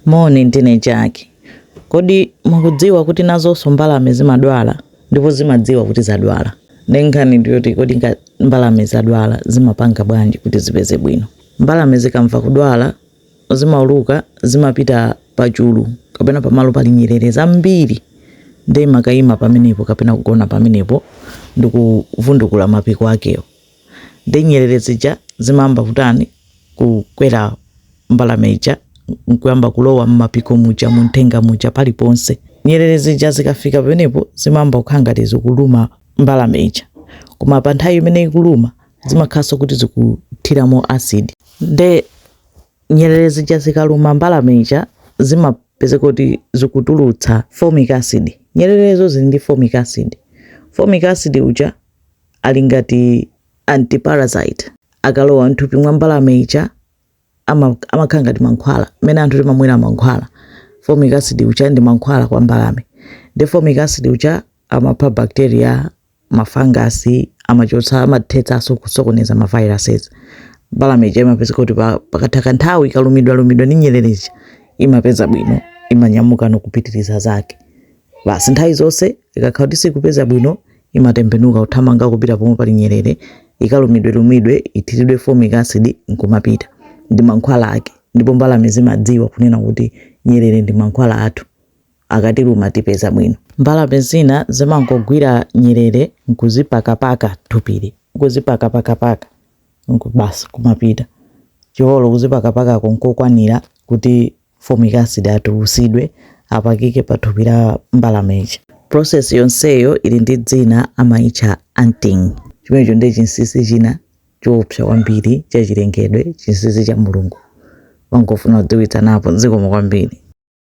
Moni, ndine Jack. Kodi mukudziwa kuti nazonso mbalame zimadwala? Ndipo zimadziwa kuti zadwala. Nde nkhani ndi yoti kodi ngati mbalame zadwala zimapanga bwanji kuti zipeze bwino. Mbalame zikamva kudwala zimauluka, zimapita pa chulu kapena pamalo pali nyerere zambiri nde imakayima pamenepo kapena kugona pamenepo ndi kuvundukula mapiko akewo. Nde nyerere zija zimayamba kutani? Kukwera mbalame ija n'kuyamba kulowa m'mapiko muja, munthenga muja, paliponse. Nyerere zija zikafika pamenepo zimayamba kukhala ngati zikuluma mbalame ija. Koma pa nthawi imene ikuluma zimakhalanso kuti zikuthiramo acid. Nde nyerere zija zikaluma mbalame ija zimapezeka kuti zikutulutsa formic acid. Nyererezo zili ndi formic acid. Formic acid uja ali ngati anti-parasite. Akalowa m'thupi mwa mbalame ija, ama, amakhala ngati mankhwala, mmene anthu timamwera mankhwala. Formic acid uja ndi mankhwala kwa mbalame. Nde formic acid uja amapha bacteria, mafangasi, amachotsa, amathetsanso kusokoneza ma viruses. Mbalame ija imapezeka kuti pa- pakatha kanthawi ikalumidwalumidwa ndi nyerere ija, imapeza bwino, imanyamuka n'kupitiriza zake. Basi nthawi zonse ikakhala kuti sikupeza bwino, imatembenuka kuthamanga kupita pomwe pali nyerere, ikalumidwelumidwe, ithiridwe formic acid, n'kumapita. Ndi mankhwala ake. Ndipo mbalame zimadziwa kunena kuti, Nyerere ndi mankhwala athu. Akatiluma tipeza bwino. Mbalame zina zimangogwira nyerere n'kuzipakapaka thupili. Kuzipakapakapaka, n'ku basi kumapita. Chifukwa kuzipakapakako n'kokwanira kuti Formic acid atulusidwe apakike pa thupi la mbalame ija. Process yonseyo ili ndi dzina amaitcha anting. Chimenecho ndiye chinsinsi china choopsa kwambiri cha chilengedwe, chinsinsi cha Mulungu. Ndimangofuna kudziwitsanapo. Zikomo kwambiri.